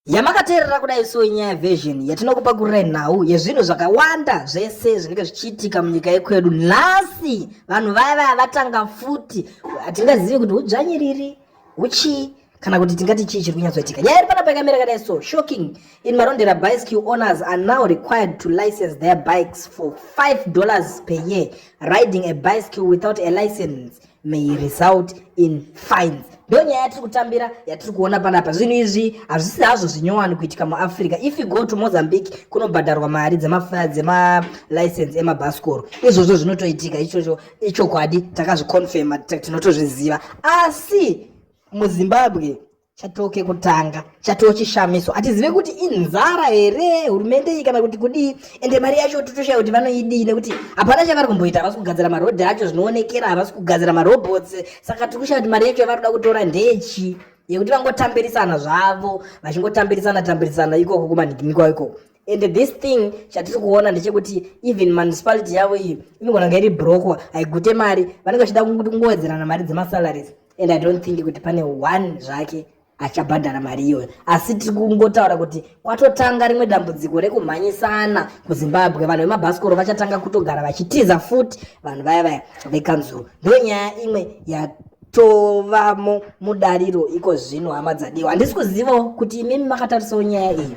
yamakateerera kudai so inyaya version yatinokupa kurira nhau yezvinhu zvakawanda zvese zvinenge zvichiitika munyika yekwedu nhasi vanhu vaya vaya vatanga futi hatingazivi kuti hudzvanyiriri huchii kana kuti tingati chii chiri kunyatsoitika nyaya iri panapa yakamira kadai so shocking in marondera bicycle owners are now required to license their bikes for 5 dollars per year riding a bicycle without a license may result in fines ndo nyaya yatiri kutambira yatiri kuona panapa zvinhu izvi hazvisi hazvo zvinyowani kuitika muafrica if you go to mozambique kunobhadharwa mari dzemalicense emabhasikoro izvozvo zvinotoitika ichocho ichokwadi takazviconfirma tinotozviziva asi muzimbabwe chatoo kekutanga chatoo chishamiso hatizive kuti inzara here hurumende iyi kana kuti kudii ende mari yacho totoshaya kuti vanoidii nekuti hapana chavari kumboita havasi kugadzira marodhi acho zvinoonekera havasi kugadzira marobots saka tiri kushaya kuti mari yacho yavari kuda kutora ndechi yekuti vangotambirisana zvavo vachingotambirisana tambirisana ikoko kumanhikinikwa ikoko and this thing chatiri kuona ndechekuti even municipality yavo iyi inogona kunge iri brokwa haigute mari vanenge vachida kungowedzerana mari dzemasalaries and i don't think kuti pane one zvake achabhadhara mari iyoyo asi tiri kungotaura kuti kwatotanga rimwe dambudziko rekumhanyisana kuzimbabwe vanhu vemabhasikoro vachatanga kutogara vachitiza futi vanhu vaya vaya vekanzuru ndo nyaya imwe yatovamo mudariro iko zvino hama dzadiwa handisi kuzivawo kuti imimi makatarisa nyaya iyi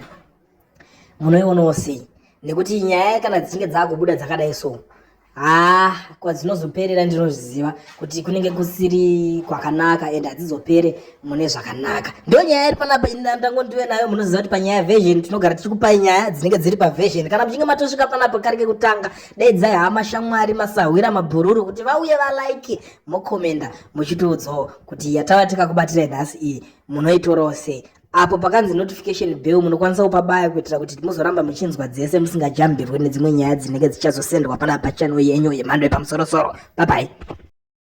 munoionawo sei nekuti nyaya kana dzichinge dzakubuda dzakadai so haa kwadzinozoperera ndinozviziva kuti kunenge kusiri kwakanaka and hadzizopere mune zvakanaka ndo nyaya iri panapa ndangondive nayo munoziva kuti panyaya version tinogara tichikupai nyaya dzinenge dziri paversion kana muchinge matosvika panapa kari kekutanga daidzai hama shamwari masahwira mabhururu kuti vauye valike mokomenda muchitiudzawo kuti yatava tikakubatirei nhasi iyi munoitorawo sei apo pakanzi notification bell munokwanisa kupabaya kuitira kuti muzoramba muchinzwa dzese musingajambirwe nedzimwe nyaya dzinenge dzichazosendwa panapa channel yenyu yemhando yepamusorosoro bye bye